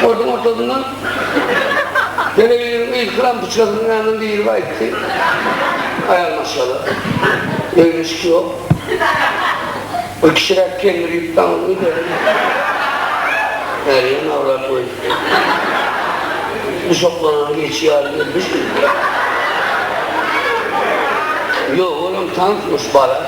Sportuň ortasyndan telewizoryň ilki lampyçkasynyň ýanyna girip aýtdy. Aýal maşgala. Egin-eşik ýok. Bir kişiräk kendir ýüp daňyp öýde. Bäriýem awlap goýdy. Guşaklanany geçi ýaly gelmişdi. Ýok, olam tansmyş, bala.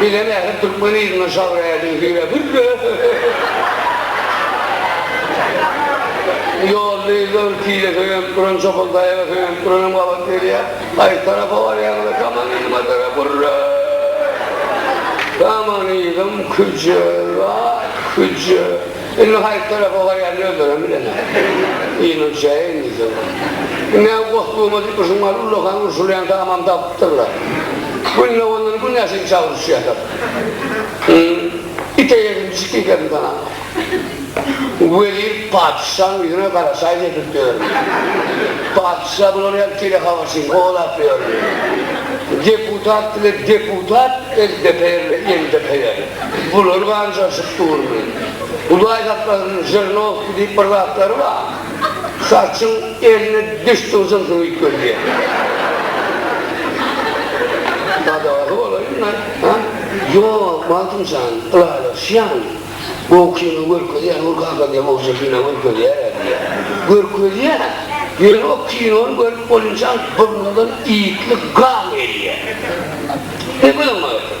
Bize nädip türkmen yzyna şabräýdiň hüýre hürre Ýolda ýüzüň tile söýenip duran çopan daýaga söýenip duranam gabat gelýä Haýsy tarapa barýaňyz kaman yzyma dara gurre Kaman yzym küje la küje. Indi haýsy tarapa barýanyny özlerem bilenok. Ýylyň çägi indi ýyl. Ine, goşgumy diýmişiňaly ullakan urşulýan tamam tapypdyrlar. Gündogandan gün äşin çag uruşýarlar. Hym, it eýesin, pişik ýekesin sananok. Wezir patyşaň ýüzüne garaşaýyn edip ýörmüş. Patyşa bulary hem telehabarçyny kowalap ýörmüş. Deputat bile deputat, eldepeýer bile eldepeýer. Bular ganjaşyp durdy. Hudaý saklasin, Žirnowskiý diýip bir zatlary bar. Saçyň eline düşsün şunsy üýtgedýär. Gadagasy bolaýyn-da, ha? Ýok, Magtymjan, ylalaşýan. Gowy kino görkezýär, Nur kaka diýýär, gowja kino görkezýär-ä diýýär. Görkezýär, ýöne o kinony görüp bolunçaň burnumdan ýitli gan gelýär. Ýöne gülüň aýtsyn.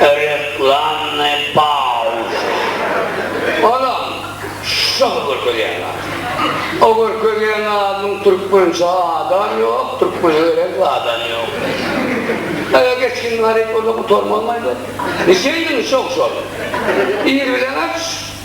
Reklamy pauz. Anam, şu şahy görkezýän zat. O görkezýän zadyň türkmençe adam ýok, türkmene gerek zadam ýok. Eger geçgin garyp bolsa gutarmazmaý bu. Niçe iýdiň şo-şony? Ir bilen aç.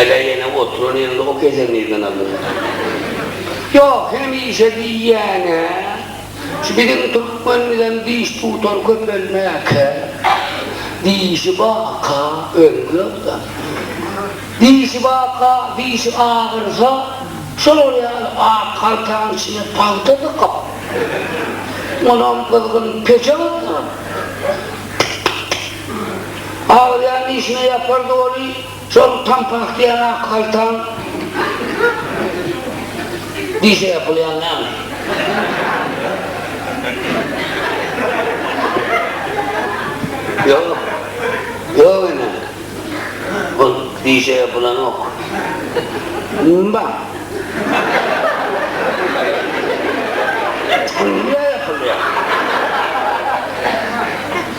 Ala ýene oturan ýeriňde ok ýesen nirden aldyň? Ýok, hemişe diýýän-ä. Şu biziň türkmenimizem diş tutar köpelmäkä. Dişi baka, öňki ýodda. Dişi baka, dişi agyrsa, şolar ýaly ak haltaň içine pagta dykyp, onam gyzgyn peçe gyzdyryp, Aglaýan dişine ýapar doly, şol pampahtiýan ak haltaň dişe ýapylýan näme? Ýok. Ýok ene. Ol dişe ýapylanok. Baň. Ol niä ýapylýar?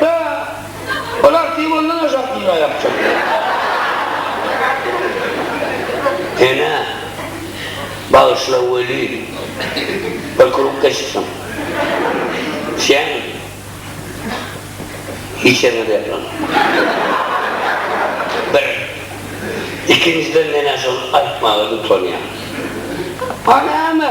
Bä! Olar tiz ondan aşak düýn aýak çekýär. Ene, bagyşla welin, bir kruk geçipsiň. Sen hiç ýeriňe-de ýaplanma. Bir. Ikinjiden men-ä şony aýtmaga utanýan. A näme?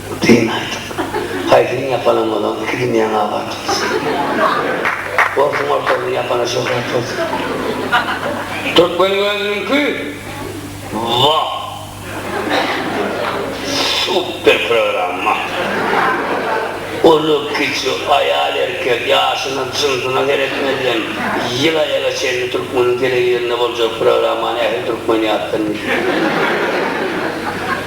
Dyn aýdyň. Haýsyny ýapanam bolan iki dünýäň abat bolsun. Orsuň ortagyny ýapana şöhrat bolsun. Türkmen gözüniňki wah. Super programma. Uly kiçi, aýal erkek, ýaşyna jynsyna seretmezden ýyl aýaga çenli türkmeniň telewizoryna boljak programmany ähli türkmen ýatdan bilýär.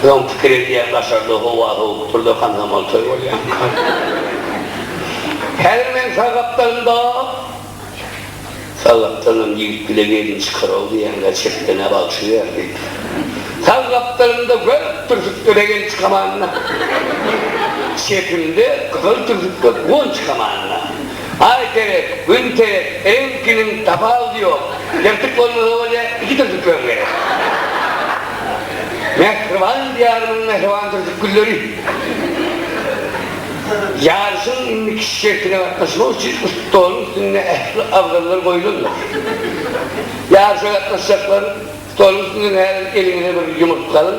Öň pikir edýän daşarda howa sowup dur da kandamal toý bolýanka. Häzir meň sag gapdalym dap. Sag gapdalynam ýigit bile gelin çykar-ow diýenler çetden-ä bagşy berdi. Sag gapdalymda gök türsükli regen çykamanda. Çepimde gyzyl türsükli gun çykamanda. Aý terek, gün terek, reňkiniň tapawudy ýok. Ýyrtyk bolmasa bolýa, iki türjükleň gerek. Mähriban Diýarymyň mähriban türjük gülleri! Ýaryşyň indiki şertine gatnaşmak üçin stoluň üstünde ähli abzallar goýlandyr. Ýaryşa gatnaşjaklar, stoluň üstünden häzir eliňize bir ýumurtga alyň,